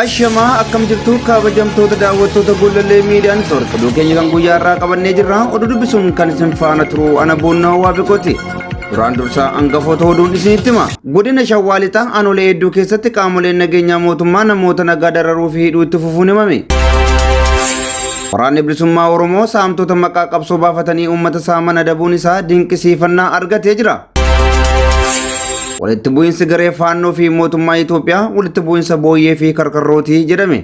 Ashamaa akkam jirtu kabajamtoota daawwattoota Gollallee Miidiyaa Neetwoork oduu keenya kan guyyaa irraa qabannee jirra oduu dubbisuun kan isin faana turu ana boonnaa waa beekoti. Duraan dursaa hangafoota oduun isinitti hima. Godina Shawaa Lixaa aanolee hedduu keessatti qaamoleen nageenyaa mootummaa namoota nagaa dararuu fi hidhuu itti fufuun himame. Waraanni Bilisummaa Oromoo saamtota maqaa qabsoo baafatanii uummata saaman adabuun isaa dinqisiifannaa argatee jira. Walitti bu'iinsi garee faannoo fi mootummaa Itoophiyaa walitti bu'iinsa booyyee fi karkarrootii jedhame.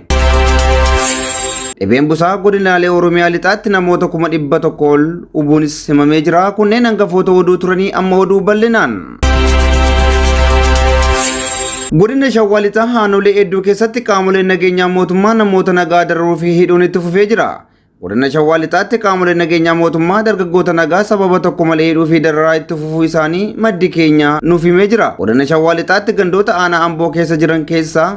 Dhibeen busaa godinaalee Oromiyaa lixaatti namoota kuma dhibba tokko ol hubuunis himamee jira. Kunneen hangafoota oduu turanii amma oduu bal'inaan. Godina Shawaa Lixaa aanolee hedduu keessatti qaamoleen nageenyaa mootummaa namoota nagaa dararuu fi hidhuun itti fufee jira. Godina Shawaa Lixaatti qaamoleen nageenyaa mootummaa dargaggoota nagaa sababa tokko malee hidhuu fi dararaa itti fufuu isaanii maddi keenya nuuf himee jira. Godina Shawaa Lixaatti gandoota aanaa Amboo keessa jiran keessaa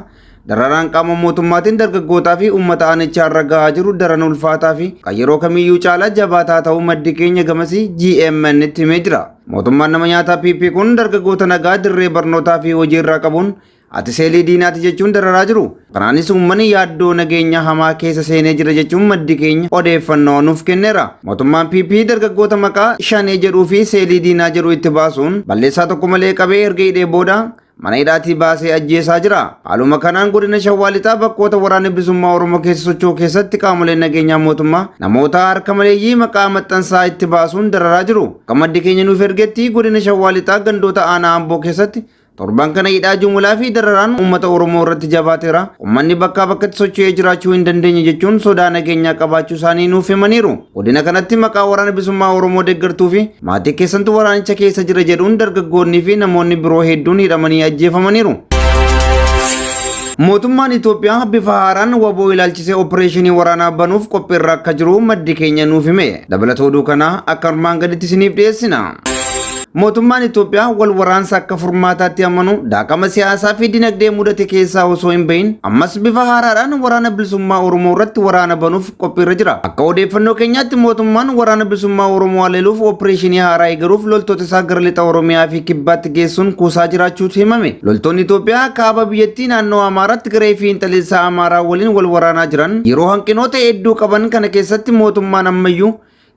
Dararaan qaama mootummaatiin dargaggootaa fi uummata aanichaa irra gahaa jiru daran ulfaataa fi kan yeroo kamiyyuu caalaa jabaataa ta'uu maddi keenya gamasii GMN itti himee jira. Mootummaan nama nyaataa PP kun dargaggoota nagaa dirree barnootaa fi hojii irraa qabuun ati seelii diinaati jechuun dararaa jiru. Kanaanis uummanni yaaddoo nageenya hamaa keessa seenee jira jechuun maddi keenya odeeffannoo nuuf kenneera. Mootummaan PP dargaggoota maqaa shanee jedhuu fi seelii diinaa jedhu itti baasuun balleessaa tokko malee qabee erga hidhee booda mana hidhaatii baasee ajjeesaa jira. Haaluma kanaan godina Shawaa Lixaa bakkoota waraanni bilisummaa Oromoo keessa socho'u keessatti qaamoleen nageenyaa mootummaa namoota harka maleeyyii maqaa maxxansaa itti baasuun dararaa jiru. Akka maddi keenya nuuf ergetti godina Shawaa Lixaa gandoota aanaa Amboo keessatti torban kana hidhaa jumulaa fi dararaan uummata Oromoo irratti jabaateera. Uummanni bakkaa bakkatti socho'ee jiraachuu hin dandeenye jechuun sodaa nageenyaa qabaachuu isaanii nuuf himaniiru. Godina kanatti maqaa waraana bilisummaa Oromoo deeggartuu fi maatii keessantu waraanicha keessa jira jedhuun dargaggoonnii fi namoonni biroo hedduun hidhamanii ajjeefamaniiru. Mootummaan Itoophiyaa bifa haaraan waboo ilaalchisee opereeshinii waraanaa banuuf qophiirra akka jiru maddi keenya nuuf hime. Dabalata oduu kanaa akka armaan gaditti isiniif dhiyeessina. Mootummaan Itoophiyaa wal waraansa akka furmaataatti amanu daaqama siyaasaa fi dinagdee mudate keessaa osoo hin bahin ammas bifa haaraadhaan waraana bilisummaa Oromoo irratti waraana banuuf qophiirra jira. Akka odeeffannoo keenyaatti mootummaan waraana bilisummaa Oromoo haleeluuf opereeshinii haaraa eegaluuf loltoota isaa gara lixa Oromiyaa fi kibbaatti geessuun kuusaa jiraachuutu himame. Loltoonni Itoophiyaa kaaba biyyattii naannoo Amaaraatti garee fiinxaleessaa Amaaraa waliin wal waraanaa jiran yeroo hanqinoota hedduu qaban kana keessatti mootummaan ammayyuu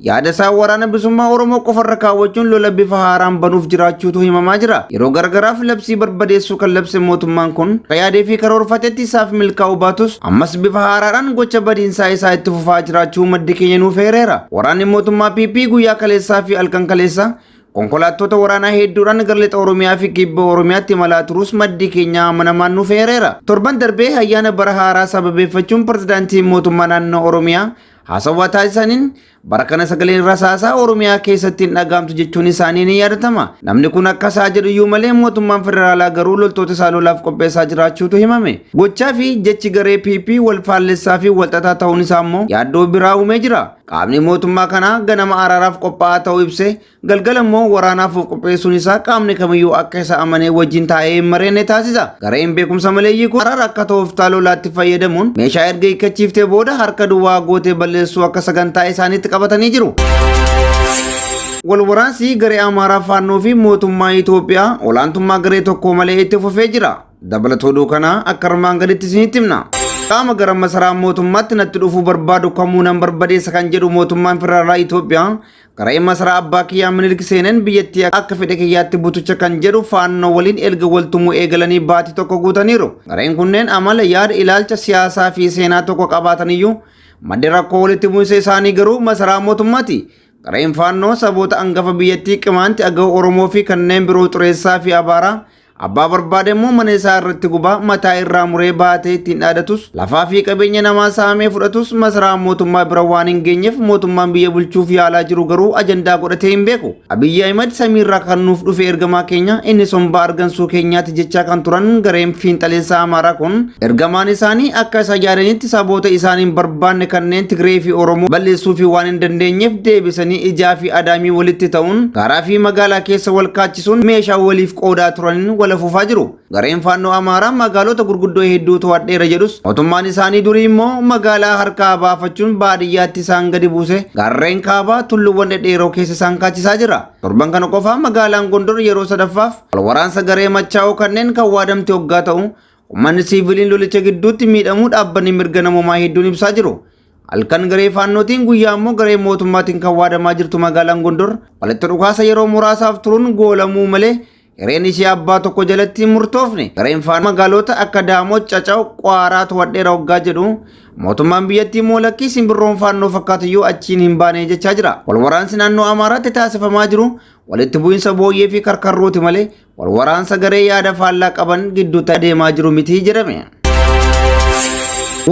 Yaada isaa waraana bilisummaa Oromoo qofarra kaawwachuun lola bifa haaraan banuuf jiraachuutu himamaa jira. Yeroo gargaraaf labsii barbadeessuu kan labse mootummaan kun akka yaadee fi karoorfatetti isaaf milkaa'uu baatus ammas bifa haaraadhaan gocha badiinsaa isaa itti fufaa jiraachuu maddi keenya nuuf eereera. Waraanni mootummaa PP guyyaa kaleessaa fi halkan kaleessaa konkolaattota waraanaa hedduudhaan gara lixa Oromiyaa fi kibba Oromiyaatti imalaa turus maddi keenya amanamaan nuuf eereera. Torban darbee ayyaana bara haaraa sababeeffachuun pirezidaantiin mootummaa naannoo Oromiyaa Haasawaa taasisaniin bara kana sagaleen rasaasaa Oromiyaa keessatti hin dhagaamtu jechuun isaanii ni yaadatama. Namni kun akka isaa jedhu iyyuu malee mootummaan federaalaa garuu loltoota isaa lolaaf qopheessaa jiraachuutu himame. Gochaa fi jechi garee PP wal faallessaa fi walxaxaa ta'uun isaa immoo yaaddoo biraa uumee jira. Qaamni mootummaa kanaa ganama araaraaf qophaa'aa ta'uu ibsee Galgala immoo waraanaaf of qopheessuun isaa qaamni kamiyyuu akka isa amanee wajjin taa'ee hin mari'anne taasisa. Gareen beekumsa maleeyyii kun araara akka tooftaa lolaatti fayyadamuun meeshaa erga hiikkachiiftee booda harka duwwaa gootee balleessuu akka sagantaa isaaniitti qabatanii jiru. Walwaraansi garee Amaaraa Faannoo fi mootummaa Itoophiyaa olaantummaa garee tokkoo malee itti fufee jira. Dabalatoo oduu kanaa akka armaan gaditti isinitti himna. Qaama gara masaraa mootummaatti natti dhufuu barbaadu kamuu nan barbadeessa kan jedhu mootummaan federaalaa Itoophiyaa Qara'ee masaraa abbaa kiyyaa Minilik seeneen biyyattii akka fedhe kiyyaatti butucha kan jedhu faannoo waliin erga waltumuu eegalanii baatii tokko guutaniiru. Gareen kunneen amala, yaada, ilaalcha, siyaasaa fi seenaa tokko qabaataniyyuu maddi rakkoo walitti bu'insa isaanii garuu masaraa mootummaati. Gareen faannoo saboota angafa biyyattii Qimaanti, Agaw, Oromoo fi kanneen biroo xureessaa fi abaaraa Abbaa barbaade immoo mana isaa irratti gubaa mataa irraa muree baatee ittiin dhaadatus lafaa fi qabeenya namaa saamee fudhatus masaraa mootummaa bira waan hin geenyeef mootummaan biyya bulchuuf yaalaa jiru garuu ajandaa godhatee hin beeku. Abiyyi Ahimad samiirraa kan nuuf dhufe ergamaa keenya inni sombaa argansuu keenyaati jechaa kan turan gareen fiinxaleessaa Amaaraa kun ergamaan isaanii akka isa yaadanitti saboota isaan hin barbaanne kanneen Tigree fi Oromoo balleessuu fi waan hin dandeenyeef deebisanii ijaa fi adaamii walitti ta'uun gaaraa fi magaalaa keessa wal hirmaachisun meeshaa waliif qoodaa turanin wal afuufaa jiru. Gareen Faannoo Amaaraa magaalota gurguddoo hedduu to'adheera jedhus mootummaan isaanii durii immoo magaalaa harkaa baafachuun baadiyyaatti isaan gadi buuse gaarreen kaabaa tulluwwan dhedheeroo keessa isaan kaachisaa jira. Torban kana qofa magaalaan Gondor yeroo sadaffaaf wal waraansa garee machaa'oo kanneen kan waadamte oggaa ta'u Uummanni siiviliin lolicha gidduutti miidhamuu dhaabbanni mirga namoomaa hedduun ibsaa jiru. Halkan garee faannootiin guyyaa immoo garee mootummaatiin kan waadamaa jirtu magaalaan Gondor walitti dhukaasa yeroo muraasaaf turuun goolamuu malee hireen ishee abbaa tokko jalatti hin murtoofne. Gareen faannoo magaaloota akka Daamoot, Cacaw, Qwaaraa to'adheera hoggaa jedhu mootummaan biyyattii immoo lakkii simbirroon faannoo fakkaatuyyuu achiin hin baane jechaa jira. Walwaraansi naannoo Amaaraatti taasifamaa jiru walitti bu'insa booyyee fi karkarrooti malee wal waraansa garee yaada faallaa qaban gidduutti adeemaa jiru miti jedhame.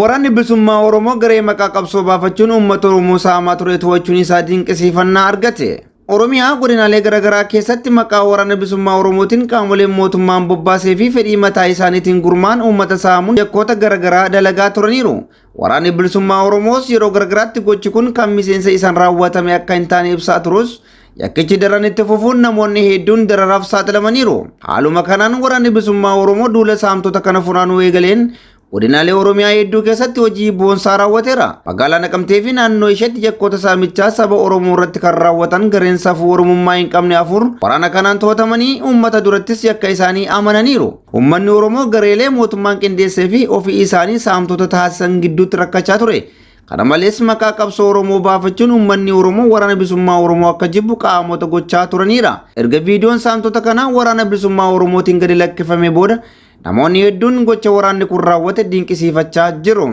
Waraanni bilisummaa Oromoo garee maqaa qabsoo baafachuun uummata Oromoo saamaa ture to'achuun isaa dinqisiifannaa argate. Oromiyaa godinaalee garaagaraa keessatti maqaa waraana bilisummaa Oromootiin qaamoleen mootummaan bobbaasee fi fedhii mataa isaaniitiin gurmaan uummata saamuun yakkoota garaagaraa dalagaa turaniiru. Waraanni bilisummaa Oromoos yeroo gargaraatti gochi kun kan miseensa isaan raawwatame akka hin taane ibsaa turus yakkichi daran itti fufuun namoonni hedduun dararaaf saaxilamaniiru. Haaluma kanaan waraanni bilisummaa Oromoo duula saamtota kana funaanuu eegaleen godinaalee Oromiyaa hedduu keessatti hojii boonsaa raawwateera. Magaalaa Naqamtee fi naannoo isheetti yakkoota saamichaa saba Oromoo irratti kan raawwatan gareen safuu Oromummaa hin qabne afur waraana kanaan to'atamanii uummata durattis yakka isaanii amananiiru. Ummanni Oromoo gareelee mootummaan qindeessee fi ofii isaanii saamtota taasisan gidduutti rakkachaa ture. Kana malees maqaa qabsoo Oromoo baafachuun ummanni Oromoo waraana bilisummaa Oromoo akka jibbu qaamota gochaa turaniidha. Erga viidiyoon saamtota kanaa waraana bilisummaa Oromootiin gadi lakkifamee booda namoonni hedduun gocha waraanni kun raawwate dinqisiifachaa jiru.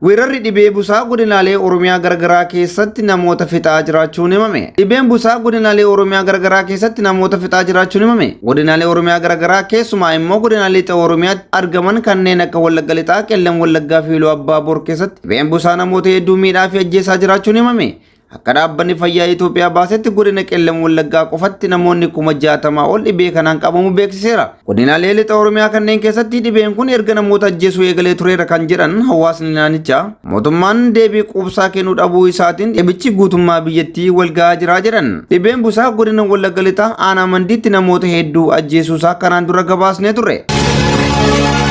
Weerarri dhibee busaa godinaalee Oromiyaa garagaraa keessatti namoota fixaa jiraachuun himame. Dhibeen busaa godinaalee Oromiyaa garagaraa keessatti namoota fixaa jiraachuun himame. Godinaalee Oromiyaa garagaraa keessumaa immoo godinaalee lixa Oromiyaatti argaman kanneen akka Wallagga Lixaa, Qellem Wallaggaa fi Iluu Abbaa Boor keessatti dhibeen busaa namoota hedduu miidhaa fi ajjeesaa jiraachuun himame. Akka dhaabbanni fayyaa Itoophiyaa baasetti godina Qellem Wallaggaa qofatti namoonni kuma jaatamaa ol dhibee kanaan qabamu beeksiseera. Godinaalee lixa Oromiyaa kanneen keessatti dhibeen kun erga namoota ajjeesuu eegalee tureera kan jedhan hawaasni naannichaa mootummaan deebii quubsaa kennuu dhabuu isaatiin dhibichi guutummaa biyyattii walga'aa jira jedhan. Dhibeen busaa godina Wallagga lixaa aanaa mandiitti namoota hedduu ajjeesuusaa kanaan dura gabaasnee turre.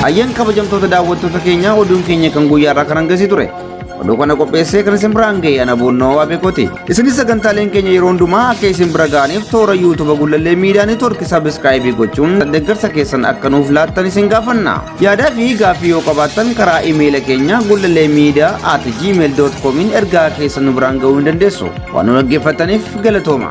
Ayyan kabajamtoota daawwattoota keenyaa oduun keenya kan guyyaarraa kan hangasii ture. Oduu kana qopheessee kan isin biraan ga'e ana boonnoo waa beekoti. Isinis sagantaaleen keenya yeroo hundumaa akka isin bira ga'aniif toora yuutuuba gullallee miidiyaa neetwoorkii sabiskiraayibii gochuun deeggarsa keessan akka nuuf laattan isin gaafanna. Yaadaa fi gaaffii yoo qabaattan karaa imeela keenya gullallee miidiyaa at gmail.comiin ergaa keessan nu biraan ga'uu ni dandeessu. Waan nu dhaggeeffattaniif galatooma.